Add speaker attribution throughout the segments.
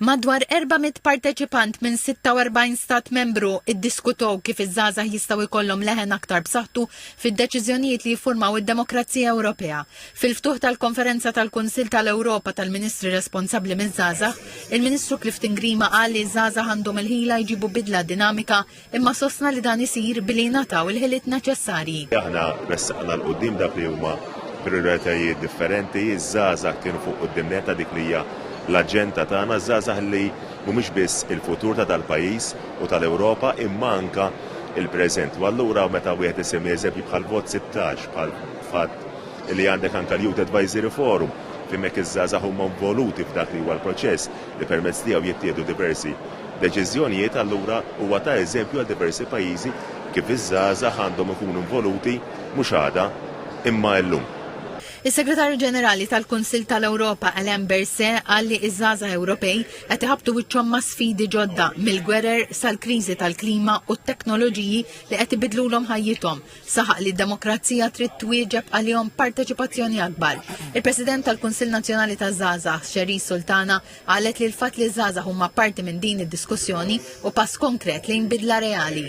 Speaker 1: Madwar 400 parteċipant minn 46 Stat Membru iddiskutow kif iż-żgħażagħ jistgħu jkollhom leħen aktar b'saħħtu fid-deċiżjonijiet li jiffurmaw id-demokrazija Ewropea. Fil-ftuħ tal-Konferenza tal-Kunsill tal-Ewropa tal-Ministri responsabbli miż-żgħażagħ, il-Ministru Clifton Grima qal li ż-żgħażagħ għandhom il-ħila jġibu bidla dinamika imma sostna li dan isir billi jingħataw il-ħiliet neċessarji. Aħna ressaqna
Speaker 2: l-qudiem dak li huma prioritajiet differenti, iż-żgħażagħ kienu fuq qudiem neta dik li hija l-aġenda tagħna, żgħażagħ li mhumiex biss il-futur ta' dal-pajjiż u tal-Ewropa imma anka il-preżent. U allura meta wieħed isemmi eżempji bħal vot 16 bħal fatt li għandek anka l-Youth Advisory Forum fejn hekk iż-żgħażagħ huma involuti f'dak li huwa l-proċess. li permezz tiegħu jittieħdu diversi deċiżjonijiet, allura huwa ta eżempju għal diversi pajjiżi kif iż-żgħażagħ għandhom ikunu involuti mhux għada, imma illum. Is-Segretarju
Speaker 1: Ġenerali tal-Kunsill tal-Ewropa Alain Berset qal li ż-żgħażagħ Ewropej qed iħabbtu wiċċhom ma' sfidi ġodda, mill-gwerer sal-kriżi tal-klima u t-teknoloġiji li qed ibidlulhom ħajjithom. Saħaq li d-demokrazija trid twieġeb għalihom parteċipazzjoni akbar. Il-President tal-Kunsill Nazzjonali taż-Żgħażagħ, Xeri Sultana, qalet li l-fatt li ż-żgħażagħ huma parti minn din id-diskussjoni u pass konkret lejn bidla reali.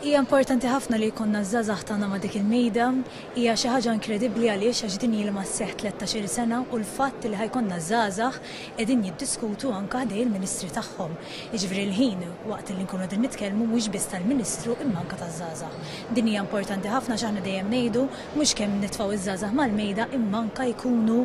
Speaker 1: Hija importanti
Speaker 3: ħafna li jkollna ż-żgħażagħ tagħna ma' dik il-mejda. Hija xi ħaġa inkredibbli għaliex għax din ilha sseħħ tlettax-il sena u l-fatt li ħa jkollna ż-żgħażagħ qegħdin jiddiskutu anke ħdejn il-Ministri tagħhom. Jiġifieri l-ħin waqt li nkunu qegħdin nitkellmu mhux biss tal-Ministru imma anke taż-żgħażagħ. Din hija importanti ħafna għax aħna dejjem ngħidu mhux kemm nitfgħu ż-żgħażagħ mal-mejda imma anke jkunu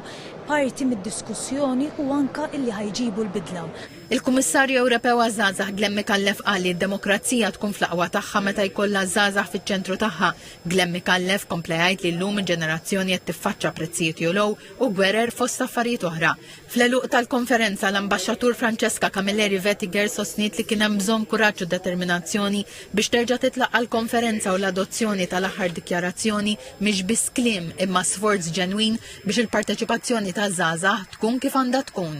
Speaker 3: parti mid-diskussjoni u anke illi ħa jġibu l-bidla. Il-Kummissarju
Speaker 1: Ewropew għaż-Żgħażagħ Glenn Micallef qal li d-demokrazija tkun fl-aqwa tagħha meta jkollha ż-żgħażagħ fiċ-ċentru tagħha. Glenn Micallef kompla jgħid li llum il-ġenerazzjoni qed tiffaċċa prezzijiet jogħlow u gwerer fost affarijiet oħra. Fl-għeluq tal-konferenza, l-Ambaxxatur Francesca Camilleri Vetiger sostniet li kien hemm bżonn kuraġġ u determinazzjoni biex terġa' titlaq għall-konferenza u l-adozzjoni tal-aħħar dikjarazzjoni mhix biss kliem imma sforz ġenwin biex il-parteċipazzjoni taż-żgħażagħ tkun kif għandha tkun.